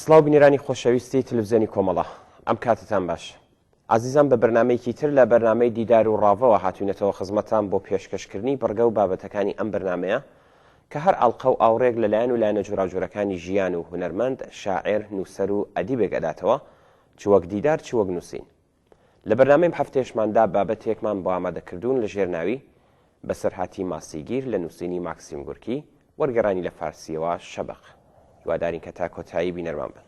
سڵاو بینەرانی خۆشەویستی تلفزیۆنی کۆمەڵە ئەم کاتتان باش ئازیزان بە بەرنمەیەکی تر لە بەرنمەی دیدار و ڕاڤەوە هاتوینەتەوە خزمەتان بۆ پێشکەشکردنی بڕگە و بابەتەکانی ئەم بەرنمەیە کە هەر ئاڵقە و ئاوڕێک لە لایەن و لایەنە جۆراوجۆرەکانی ژیان و هونەرمەند شاعر نووسەر و ئەدیبێک ئەداتەوە چ وەک دیدار چ وەک نووسین لە بەرنامەی ئەم هەفتەیەشماندا بابەتێکمان بۆ ئامادەکردوون لە ژێر ناوی، بەسەرهاتی ماسیگیر لە نووسینی ماکسیم گورکی، وەرگێڕانی لە فارسییەوە، شەبەق. هیوادارین کە تا کۆتایی بینەرمان بن.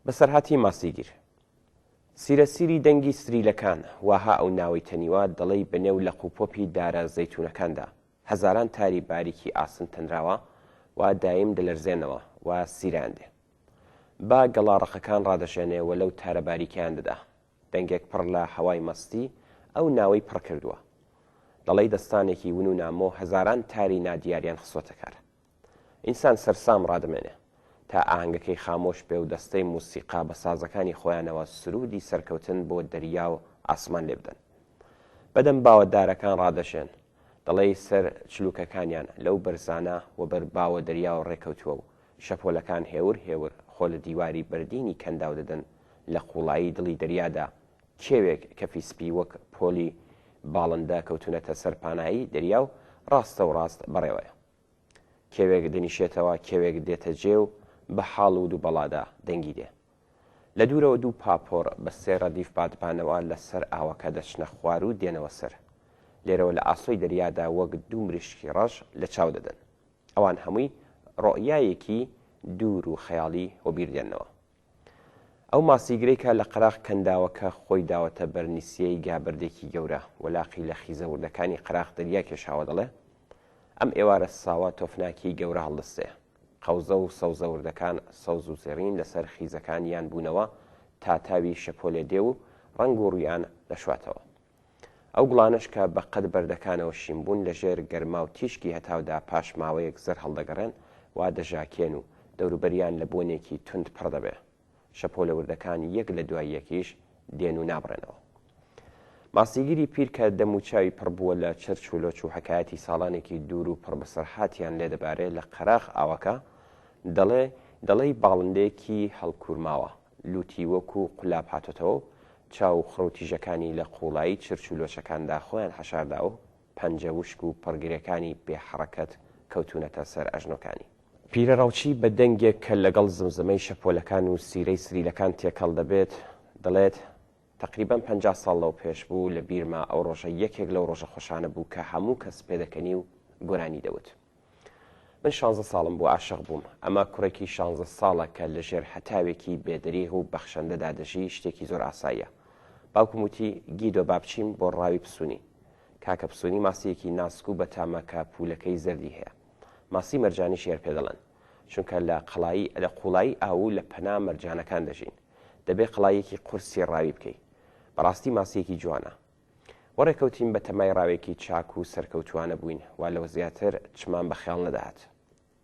بەسەرهاتی ماسیگیر، سیرە سیری دەنگی ستریلەکان، واها ئەو ناوەی تەنیوە، دەڵێی بە نێو لەق و پۆپی دارە زەیتوونەکاندا، هەزاران تاری باریکی ئاسن تەنراوە و دایم دەلەرزێنەوە و سیرەیان دێ. با گەڵا ڕەقەکان ڕادەشێنێ و لەو تارە باریکەیان دەدا. دەنگێک پڕ لە هەوای مەستی، ئەو ناوەی پڕ کردووە. دەڵێی دەستانێکی ون و نامۆ هەزاران تاری نادیاریان خستووەتە کار. ئینسان سەرسام ڕادەمێنێ تا ئاهەنگەکەی خامۆش بێ و دەستەی موسیقا بە سازەکانی خۆیانەوە سروودی سەرکەوتن بۆ دەریا و ئاسمان لێ بدەن. بەدەم باوە دارەکان ڕادەشێن، دەڵێی سەر چلووکەکانیان لەو بەرزانە وەبەر باوە دەریا و ڕێکەوتووە و شەپۆلەکان هێور هێور خۆ لە دیواری بەردینی کەنداو دەدەن لە قووڵایی دڵی دەریادا کێوێک کەفی سپی وەک پۆلی باڵندە کەوتوونەتە سەر پانایی دەریا و ڕاستەوڕاست بەڕێوەیە. کێوێک دەنیشێتەوە کێوێک دێتە جێ و بە حاڵ و دووبەڵادا دەنگی دێ. لە دوورەوە دوو پاپۆڕ بە سێ ڕەدیف بادبانەوە لە سەر ئاوەکە دەچنە خوار و دێنەوە سەر. لێرەوە لە ئاسۆی دەریادا وەک دوو مریشکی ڕەش لە چاو دەدەن. ئەوان هەمووی ڕۆئیایەکی دوور و خەیاڵی وەبیر دێننەوە. ئەو ماسیگرەی کە لە قەراغ کەنداوەکە خۆی داوەتە بەر نیسیەی گا بەردێکی گەورە و لاقی لە خیزە وردەکانی قەراغ دەریا کێشاوە دەڵێ، ئەم ئێوارە ساوە تۆفناکیی گەورە هەڵدەستێ. قەوزە و سەوزە وردەکان سەوز و زێڕین لە سەر خیزەکانیان بوونەوە تا تاوی شەپۆلێ دێ و ڕەنگ و ڕوویان دەشواتەوە. ئەو گوڵانەش کە بە قەد بەردەکانەوە شین بوون، لە ژێر گەرما و تیشکی هەتاودا پاش ماوەیەک زەر هەڵدەگەڕێن و دەژاکێن و دەوروبەریان لە بۆنێکی توند پڕ دەبێ. شەپۆلە وردەکان یەک لە دوای یەکیش دێن و نابڕێنەوە. ماسیگری پیر کە دەم و چاوی پڕ بووە لە چرچ و لۆچ و حەکایەتی ساڵانێکی دوور و پڕ بەسەرهاتیان لێ دەبارێ لە قەراخ ئاوەکە، دەڵێ، دەڵێی باڵندەیەکی هەڵکوورماوە، لووتی وەکو قولاب هاتۆتەوە و چاو و خڕ و تیژەکانی لە قووڵایی چرچ و لۆچەکاندا خۆیان حەشارداوە و پەنجە وشک و پڕگرێکانی بێ حەڕەکەت کەوتوونەتە سەر ئەژنۆکانی. پیرە ڕەوچی بە دەنگێک کە لەگەڵ زمزمەی شەپۆلەکان و سیرەی سریلەکان تێکەڵ دەبێت، دەڵێت، تەقریبەن پەنجا ساڵ لەو پێش بوو، لە بیرمە ئەو ڕۆژە یەکێک لەو ڕۆژە خۆشانە بوو کە هەموو کەس پێدەکەنی و گۆرانی دەوت. من شانزە ساڵم بوو عاشق بووم ئەمە کوڕێکی شانزە ساڵە کە لە ژێر حەتاوێکی بێدەریغ و بەخشەندەدا دەژی شتێکی زۆر ئاساییە باوکم وتی گیدۆ با بچین بۆ ڕاوی پسوونی کاکە پسوونی ماسیەکی ناسک و بەتامە کە پولەکەی زەردی هەیە ماسی مەرجانی شێر پێ دەڵێن چونکە لە قەڵایی لە قوڵایی ئاو لە پەنا مەرجانەکان دەژین دەبێ قەڵایەکی قورسی ڕاوی بکەی بەڕاستی ماسیەکی جوانە و ڕێکەوتین بە تەمای ڕاوێکی چاک و سەرکەوتووانە بووین و لەوە زیاتر چمان بە خەیاڵ نەدەهات.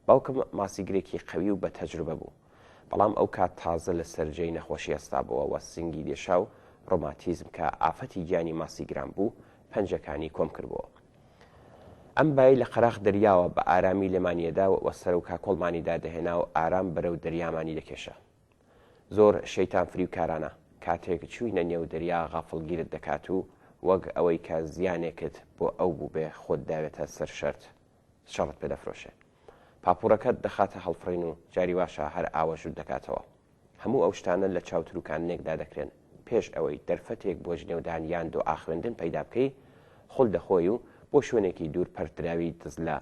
باوکم ماسیگرێکی قەوی و بە تەجروبە بوو، بەڵام ئەو کات تازە لە سەر جێی نەخۆشی هەستابۆوە و سنگی دێشا و ڕۆماتیزم کە ئافەتی گیانی ماسیگران بوو پەنجەکانی کۆم کردبۆوە. ئەم بایەی لە قەراخ دەریاوە بە ئارامی لێمانیەدا و سەرو کاکۆڵمانی دادەهێنا و ئارام بەرەو دەریامانی دەکێشا. زۆر شەیتان فریوکارانە کاتێک چووینە نێو دەریا غافڵگیرت دەکات و وەک ئەوەی کە زیانێکت بۆ ئەو بووبێ خۆت داوێتە سەر شەرت شەڕت پێ دەفرۆشێ پاپوڕەکەت دەخاتە هەڵفڕین و جاری واشە هەر ئاوەژووت دەکاتەوە هەموو ئەو شتانە لە چاو تروکاننێکدا دەکرێن پێش ئەوەی دەرفەتێک بۆ جنێودان یان دۆعاخوێندن پەیدا بکەی خول دەخۆی و بۆ شوێنێکی دوور پەرتدراوی دزلە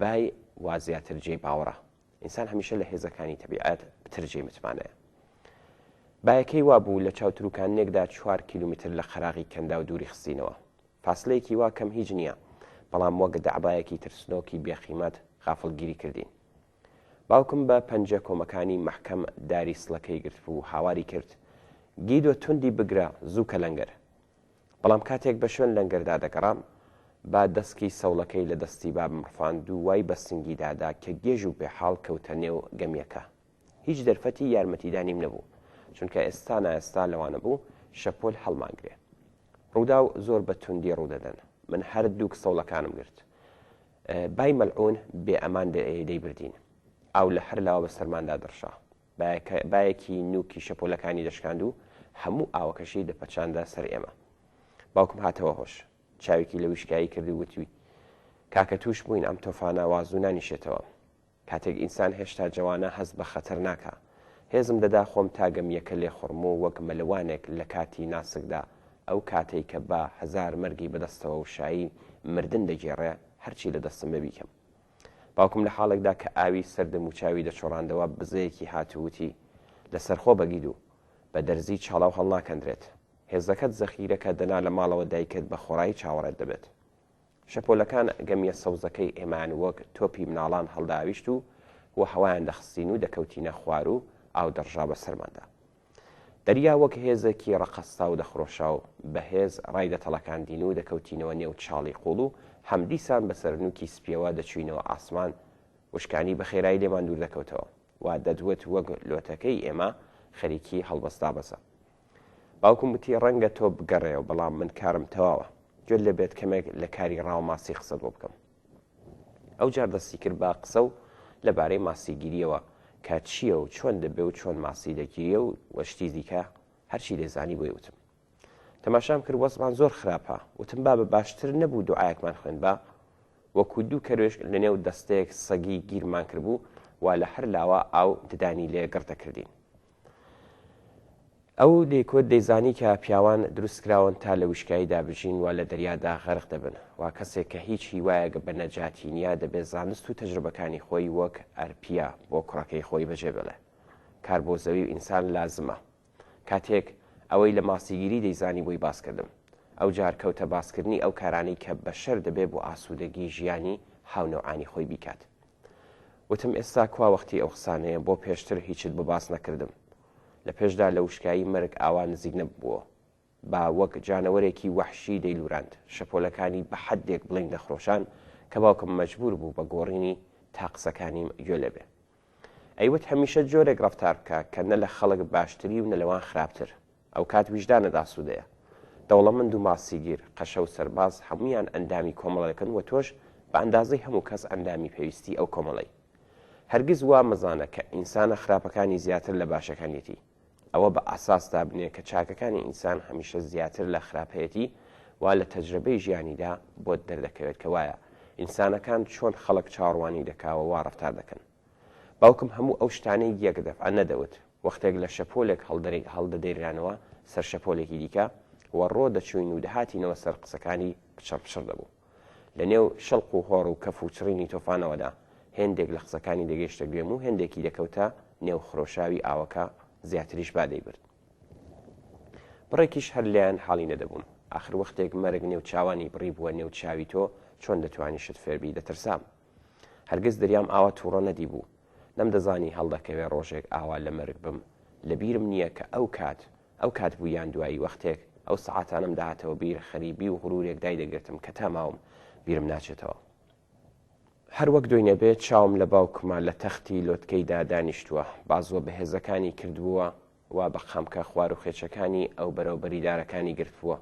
بای وازیاتر جێی باوەڕە ئینسان هەمیشە لە هێزەکانی تەبیعەت پتر جێی متمانەیە. بایەکەی وا بوو لە چاوتروکانێکدا چوار کیلومتر لە قەراغی کەنداو دووری خستینەوە. فاسلەیەکی وا کەم هیچ نییە، بەڵام وەک دەعبایەکی ترسنۆکی بێقیمەت غافڵگیری کردین. باوکم بە پەنجە کۆمەکانی مەحکەم داری سڵەکەی گرتبوو، هاواری کرد، گیدۆ توندی بگرە، زوو کە لەنگەر! بەڵام کاتێک بە شوێن لەنگەردا دەگەڕام، با دەسکی سەوڵەکەی لە دەستی بابم ڕفاند و وای بە سنگیدا دا کە گێژ و بێحاڵ کەوتە نێو گەمییەکە. هیچ دەرفەتی یارمەتیدانیم نەبوو، چونکە ئێستا نائێستا لەوانەبوو شەپۆل هەڵمانگرێ. ڕووداو زۆر بە توندی ڕوو دەدەن. من هەر دووک سەوڵەکانم گرت. بای مەلعوون بێ ئەمان دەیبردین. ئاو لە هەر لاوە بە سەرماندا دەڕشا. بایەکی نووکی شەپۆلەکانی دەشکاند و هەموو ئاوەکەشی دەپەچاندە سەر ئێمە. باوکم هاتەوە هۆش. چاوێکی لە ویشکایی کرد و وتی، کاکە تووشبووین ئەم تۆفانە وا زوو نانیشێتەوە. کاتێک ئینسان هێشتا جەوانە هەست بە خەتەر ناکا. هێزم دەدا خۆم تا گەمییەکە لێخوڕم و وەک مەلەوانێک لە کاتی ناسکدا، ئەو کاتەی کە با هەزار مەرگی بەدەستەوە و شایی مردن دەگێڕێ، هەرچی لە دەستم بێ بیکەم. باوکم لە حاڵێکدا کە ئاوی سەر دەموچاوی دەچۆڕاندەوە بزەیەکی هات و وتی، لەسەرخۆ بە گیدو، بە دەرزیی چاڵاو هەڵناکەندرێت. هێزەکەت زەخیرەکە دەنا لە ماڵەوە دایکت بە خۆڕایی چاوەڕێت دەبێت. شەپۆلەکان گەمییە سەوزەکەی ئێمەیان وەک تۆپی مناڵان هەڵدەئاویشت و وەهەوایان دەخستین و دەکەوتینە خوار و ئاو دەڕژا بەسەرماندا. دەریا وەک هێزێکی ڕەقەستاو دەخرۆشاو بەهێز ڕای دەتەڵەکاندین و دەکەوتینەوە نێو چاڵی قوڵ و هەمدیسان بەسەر نووکی سپیەوە دەچووینەوە ئاسمان وشکانی بەخێرایی لێمان دووردەکەوتەوە و دەدوت وەک لۆتەکەی ئێمە خەریکی هەڵبەست دابەزە. باوکم وتی ڕەنگە تۆ بگەڕێەوە بەڵام من کارم تەواوە. گوێت لێبێت کەمێک لە کاری ڕاو ماسی قسەت بۆ بکەم. ئەوجار دەستی کرد بە قسە و لەبارەی ماسیگیرییەوە، کە چییە و چۆن دەبێ و چۆن ماسی دەگیرێ و و شتی دیکە، هەرچی دەیزانی بۆی وتم. تەماشام کرد وەزعمان زۆر خراپە، وتم بابە باشتر نەبوو دوعایەکمان خوێندبا؟ وەکوو دوو کەروێشک لەنێو دەستەیەک سەگی گیرمان کردبوو و لە هەر لاوە ئاو ددانی لێ گڕ دەکردین. ئەو لیکوت دەیزانی کە پیاوان دروست کراون تا لە وشکاییدا بژین و لە دەریادا غەرق دەبن و کەسێک کە هیچ هیوایەک بە نەجاتی نییە دەبێت زانست و تەجربەکانی خۆی وەک ئەرپییە بۆ کوڕەکەی خۆی بەجێ بێڵێ کار بۆ زەوی و ئینسان لازمە کاتێک ئەوەی لە ماسیگیری دەیزانی بۆی باس کردم ئەوجار کەوتە باس کردنی ئەو کارانەی کە بەشەر دەبێ بۆ ئاسوودەگی ژیانی هاونەوعانی خۆی بیکات وتم ئێستا کوا وەختی ئەو قسانەیە بۆ پێشتر هیچت بۆ باس نەکردم لە پێشدا لە وشکایی مەرگ ئاوا نزیک نەببووە با وەک جانەوەرێکی وەحشی دەیلوراند شەپۆلەکانی بە حەدێک بڵین دەخرۆشان کە باوکم مەجبوور بوو بە گۆڕینی تا قسەکانیم گوێ لێبێ ئەیوت هەمیشە جۆرێک ڕەفتار بکە کە نە لە خەڵک باشتری و نە لەوان خراپتر ئەوکات ویژدانت ئاسوودەیە. دەوڵەمەند و ماسیگیر، قەشە و سەرباز هەموویان ئەندامی کۆمەڵەکەن و تۆش بە ئەندازەی هەموو کەس ئەندامی پێویستی ئەو کۆمەڵەی. هەرگیز وا مەزانە کە ئینسانە خراپەکانی زیاتر لە باشەکانیەتی. ئەوە بە ئاساس دابنێ کە چاکەکانی ئینسان هەمیشە زیاتر لە خراپەیەتی وا لە تەجرەبەی ژیانیدا بۆت دەردەکەوێت کە وایە ئینسانەکان چۆن خەڵک چاوەڕوانی دەکا و وا ڕەفتار دەکەن. باوکم هەموو ئەو شتانەی گیەکە دەفعە نەدەوت، وەختێک لە شەپۆلێک هەڵدەدەیرانەوە سەر شەپۆلێکی دیکە و ڕۆ دەچووین و دەهاتینەوە سەر قسەکانی پچڕ پچڕ دەبوو. لە نێو شڵق و هۆڕ و کەف و چڕینی تۆفانەوەدا هێندێک لە قسەکانی دەگەیشتە گوێم و هێندێکی دەکەوتە نێو خرۆشاوی ئاوەکە زیاتریش با دەیبرد. بڕێکیش هەر لێیان حاڵی نەدەبووم. ئاخر وەختێک مەرگ نێو چاوانی بڕیبووە نێو چاوی تۆ چۆن دەتوانی شت فێربی دەترسام. هەرگز دەریام ئاوا توڕە نەدیبوو، نەمدەزانی هەڵدەکەوێ ڕۆژێک ئاوا لە مەرگ بم، لە بیرم نییە کە ئەو کات ئەو کات بوو یان دوایی وەختێک ئەو سەعاتانەم دەهاتەوە بیر خەریبی و غرورێک دایدەگرتم کە تا ماوم بیرم ناچێتەوە. هەر وەک دۆینەبێ چاوم لە باوکمە لە تەختی لۆتکەیدا دانیشتووە، بازووە بەهێزەکانی کردبووە وا بە قامکە خوار و خێچەکانی ئەو بەرەو بەری دارەکانی گرتبووە،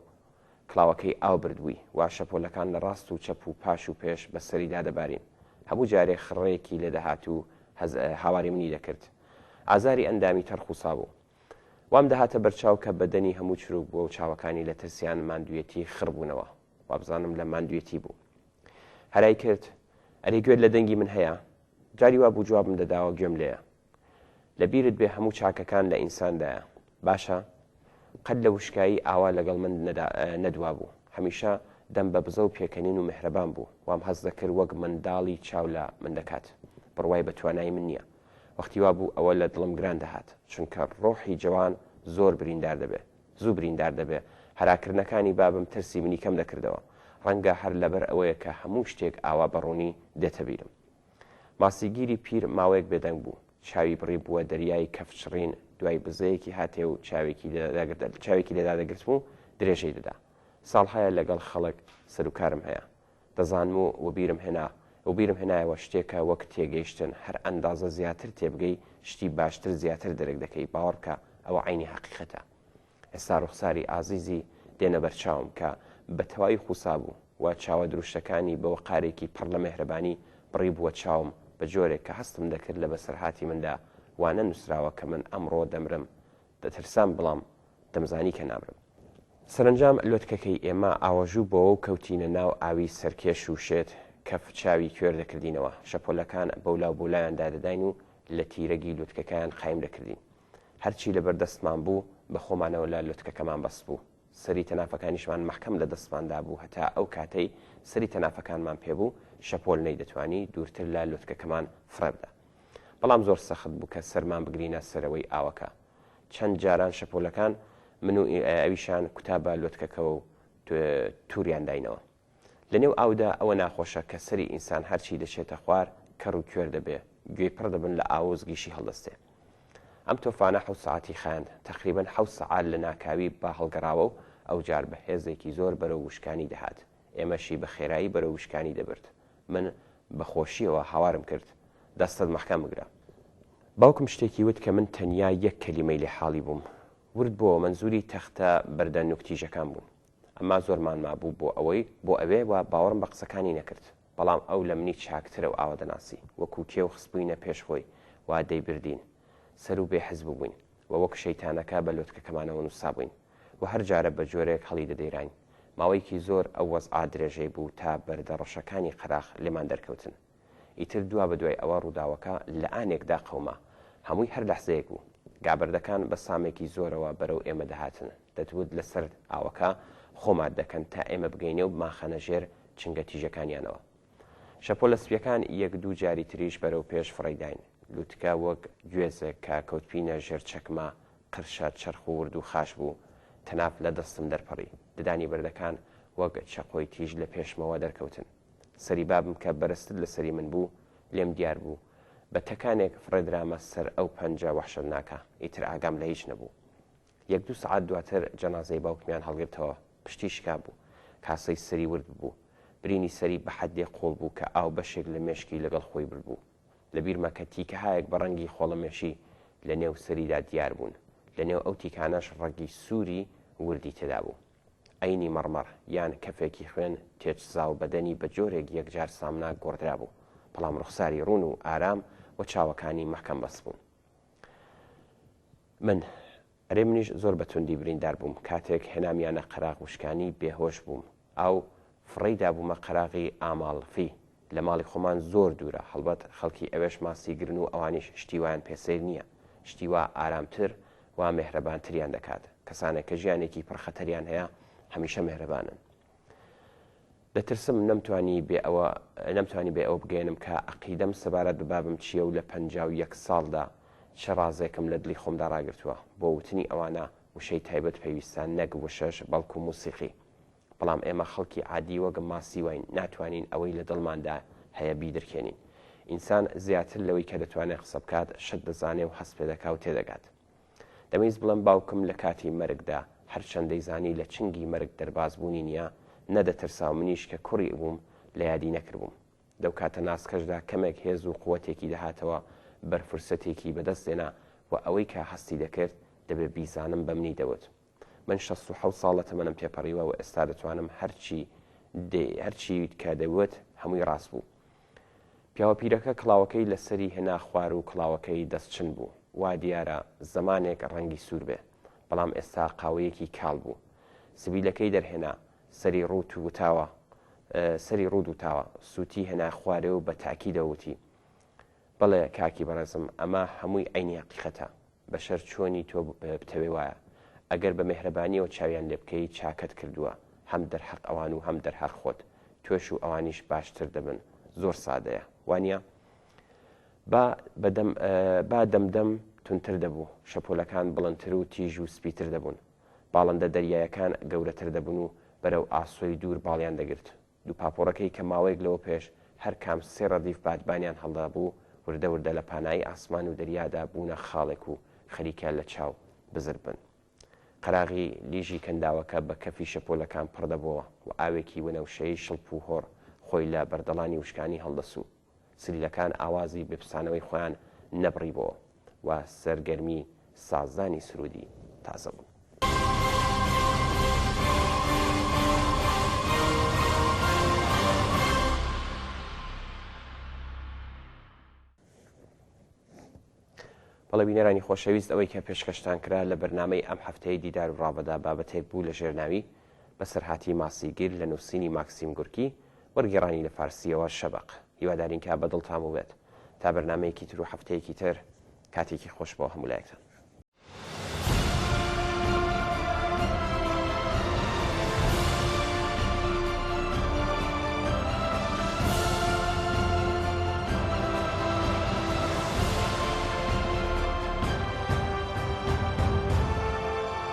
کڵاوەکەی ئاو بردبووی، وا شەپۆلەکان لە ڕاست و چەپ و پاش و پێش بە سەریدا دەبارین. هەموو جارێ خڕەیەکی لێ دەهات و هەز هاواری منی دەکرد. ئازاری ئەندامی تەڕخوسابوو. وام دەهاتە بەرچاو کە بەدەنی هەموو چروک بووە و چاوەکانی لە ترسیان ماندوویەتی خڕ بوونەوە. وابزانم لە ماندوویەتی بوو. هەرای کرد، ئەرێ گوێت لە دەنگی من هەیە؟ جاری وابوو جوابم دەداوە گوێم لێیە. لەبیرت بێ هەموو چاکەکان لە ئینساندایە باشە قەت لە وشکایی ئاوا لەگەڵ من نەدوابوو هەمیشە دەم بە بزە و پێکەنین و مهرەبان بوو وام هەز دەکرد وەک منداڵی چاو لە من دەکات بڕوای بە توانای من نییە وەختی وا بوو ئەوە لە دڵم گران دەهات چونکە ڕۆحی جوان زۆر بریندار دەبێ زوو بریندار دەبێ هەراکردنەکانی بابم ترسی منی کەم دەکردەوە ڕەنگە هەر لەبەر ئەوەیە کە هەموو شتێک ئاوا بەڕوونی دێتە بیرم ماسیگیری پیر ماوەیەک بێدەنگ بوو. چاوی بڕیبووە دەریای کەفچڕین، دوای بزەیەکی هاتێ و چاوێکی لێ دادەگرتم و درێژەی دەدا. ساڵهایە لەگەڵ خەڵک سەروکارم هەیە. دەزانم و وەبیرم هێنا. وەبیرم هێنایەوە شتێکە وەک تێگەیشتن، هەر ئەندازە زیاتر تێبگەی، شتی باشتر زیاتر دەرک دەکەی، باوەڕ بکە ئەوە عەینی هەقیقەتە. ئێستا ڕوخساری ئازیزی دێنە بەرچاوم کە بە تەواوی خوسابوو و چاوە دروشتەکانی بە وەقارێکی پڕ لە مێهرەبانی بڕیبووە چاوم بە جۆرێک کە هەستم دەکرد لە بەسەرهاتی مندا وانە نووسراوە کە من ئەمڕۆ دەمرم دەترسام بڵام دەمزانی کە نامرم. سەرەنجام لۆتکەکەی ئێمە ئاوەژوو بۆوە و کەوتینە ناو ئاوی سەرکێش و شێت کەف چاوی کوێر دەکردینەوە، شەپۆلەکان بەولاو بۆلایان دادەداین و لە تیرەگی لوتکەکەیان قایم دەکردین. هەرچی لەبەر دەستمان بوو، بە خۆمانەوە لە لوتکەکەمان بەستبوو. سەری تەنافەکانیشمان مەحکەم لە دەستمان دابوو، هەتا ئەو کاتەی سەری تەنافەکانمان پێ بوو، شەپۆل نەیدەتوانی دوورتر لە لوتکەکەمان فڕێبدا. بەڵام زۆر سەخت بوو کە سەرمان بگرینە سەرەوەی ئاوەکە. چەند جاران شەپۆلەکان من و ئەویشان کوتا بە لوتکەکەوە و تووریان داینەوە. لە نێو ئاودا ئەوە ناخۆشە کە سەری ئینسان هەرچی دەچێتە خوار کەڕ و کوێر دەبێ، گوێی پڕ دەبن لە ئاو و زگیشی هەڵدەستێ. ئەم تۆفانە حەوت سەعاتی خایاند، تەقریبەن حەوت سەعات لە ناکاوی با هەڵگەڕاوە و ئەوجار بە هێزێکی زۆر بەرەو وشکانی دەهات، ئێمەشی بە خێرایی بەرەو وشکانی دەبرد. من بە خۆشییەوە هاوارم کرد، دەستت مەحکەم بگرە. باوکم شتێکی وت کە من تەنیا یەک کەلیمەی لێ حاڵی بووم. ورد بۆوە مەنزووری تەختە بەردە نووک تیژەکان بوون. ئەمما زۆرمان مابوو بۆ ئەوەی بۆ ئەوێ و باوەڕم بە قسەکانی نەکرد. بەڵام ئەو لە منی چاکترە و ئاوا دەناسی. وەکوو کێو خستبووینە پێش خۆی و دەیبردین. سەروو بێ حەز بووبووین و وەک شەیتانەکە بە لۆتکەکەمانەوە نووسابووین و هەر جارە بە جۆرێک هەڵی دەدەیراین. ماوەیەکی زۆر ئەو وەزعە درێژەی بوو تا بەردە ڕەشەکانی قەراخ لێمان دەرکەوتن. ئیتر دوا بە دوای ئەوە ڕووداوەکە لە ئانێکدا قەوما. هەمووی هەر لەحزەیەک بوو. گابەردەکان بە سامێکی زۆرەوە بەرەو ئێمە دەهاتن. دەتوت لەسەر ئاوەکە خۆ مات دەکەن تا ئێمە بگەینێ و بمانخەنە ژێر چنگە تیژەکانیانەوە. شەپۆلە سپییەکان یەک دوو جاری تریش بەرەو پێش فڕێیداین. لووتکە وەک گوێزێک کە کەوتبینە ژێر چەکمە، قرشە، چەرخ و وردو خاش بوو. تەناف لە دەستم دەرپەڕی. ددانی بەردەکان وەک چەقۆی تیژ لە پێشمەوە دەرکەوتن. سەری بابم کە بەرزتر لە سەری من بوو، لێم دیار بوو. بە تەکانێک فڕێدرامە سەر ئەو پەنجە وەحشەتناکە. ئیتر ئاگام لە هیچ نەبوو. یەک دوو سەعات دواتر جەنازەی باوکمیان هەڵگرتەوە. پشتی شکابوو. کاسەی سەری ورد ببوو. برینی سەری بە حەددێ قووڵ بوو کە ئاو بەشێک لە مێشکی لەگەڵ خۆی بردبوو. لە بیرمە کە تیکەهایەک بە ڕەنگی خۆڵەمێشی لە نێو سەریدا دیار بوون. لە نێو ئەو تیکانەش ڕەگی سووری وردی تێدا بوو. عەینی مەڕمەڕ یان کەفێکی خوێن تێچزاو بەدەنی بە جۆرێک یەکجار سامناک گۆڕدرابوو، بەڵام ڕوخساری ڕوون و ئارام و چاوەکانی مەحکەم بەست بوون. من، ئەرێ منیش زۆر بە توندی بریندار بووم، کاتێک هێنامیانە قەراغ وشکانی بێهۆش بووم، ئاو فڕێی دابوومە قەراغی ئاماڵفی، لە ماڵی خۆمان زۆر دوورە، هەڵبەت خەڵکی ئەوێش ماسیگرن و ئەوانیش شتی وایان پێ سەیر نییە، شتی وا ئارامتر و مێهرەبانتریان دەکات، کەسانێک کە ژیانێکی پڕ خەتەریان هەیە هەمیشە مێهرەبانن. دەترسم نەمتوانی بێ ئەوە نەمتوانی بێ ئەوە بگەیەنم کە عەقیدەم سەبارەت بە بابم چییە و لە پەنجا و یەک ساڵدا چ ڕازێکم لە دڵی خۆمدا ڕاگرتووە. بۆ وتنی ئەوانە وشەی تایبەت پێویستە نەک وشەش بەڵکو موسیقی. بەڵام ئێمە خەڵکی عادی وەک ماسیواین ناتوانین ئەوەی لە دڵماندا هەیە بیدرکێنین. ئینسان زیاتر لەوەی کە دەتوانێت قسە بکات، شت دەزانێ و هەست پێدەکا و تێدەگات. دەمویست بڵێم باوکم لە کاتی مەرگدا هەرچەند دەیزانی لە چنگی مەرگ دەرباز بوونی نییە، نەدەترسا و منیش کە کوڕی بووم لە یادی نەکردبووم. لەو کاتە ناسکەشدا کەمێک هێز و قووەتێکی دەهاتەوە بەر فرسەتێکی بەدەست دێنا و ئەوەی کە هەستی دەکرد دەبێ بیزانم بە منی دەوت من شەست و حەوت ساڵ لە تەمەنم تێپەڕیوە و ئێستا دەتوانم هەرچی هەرچی کە دەیوت هەمووی ڕاست بوو. پیاوە پیرەکە کڵاوەکەی لەسەری هێنا خوار و کڵاوەکەی دەستچن بوو. وا دیارە زەمانێک ڕەنگی سوور بێ، بەڵام ئێستا قاوەیەکی کاڵ بوو. سبیلەکەی دەرهێنا، سەری ڕووت وتاوە، سەری ڕووت وتاوە، سووتی هێنا خوارێ و بە تاکیدەوە وتی، بەڵێ کاکی بەڕێزم، ئەمە هەمووی عەینی هەقیقەتە. بەشەر چۆنی تۆ بتەوێ وایە ئەگەر بە مێهرەبانیەوە چاویان لێ بکەی چاکەت کردووە هەم دەرحەق ئەوان و هەم دەرحەق خۆت تۆش و ئەوانیش باشتر دەبن زۆر سادەیە وانە با بەدەم با دەمدەم تونتر دەبوو شەپۆلەکان بڵندتر و تیژ و سپیتر دەبوون باڵندە دەریایەکان گەورەتر دەبوون و بەرەو ئاسۆی دوور باڵیان دەگرت دوو پاپۆڕەکەی کە ماوەیەک لەوە پێش هەر کام سێ ڕەدیف بادبانیان هەڵدابوو، وردە وردە لە پانایی ئاسمان و دەریادا بوونە خاڵێک و خەریکە لە چاو بزر بن. قەراغی لیژی کەنداوەکە بە کەفی شەپۆلەکان پڕ دەبۆوە و ئاوێکی وەنەوشەیی شڵپ و هۆڕ خۆی لە بەردەڵانی وشکانی هەڵدەسوو. سلیلەکان ئاوازی بپسانەوەی خۆیان نەبڕیبۆوە و سەرگەرمی سازدانی سروودی تازە بوون. بەڵێ بینەرانی خۆشەویست ئەوەی کە پێشکەشتان کرا لە بەرنمەی ئەم هەفتەیە دیدار و ڕاوەدا بابەتێک بوو لە ژێرناوی بەسەرهاتی ماسیگیر لە نووسینی ماکسیم گورکی، وەرگێڕانی لە فارسییەوە شەبەق. هیوادارین کە بە دڵتان بووبێت. تا بەرنامەیەکی تر و هەفتەیەکی تر، کاتێکی خۆش بۆ هەموو لایەکتان.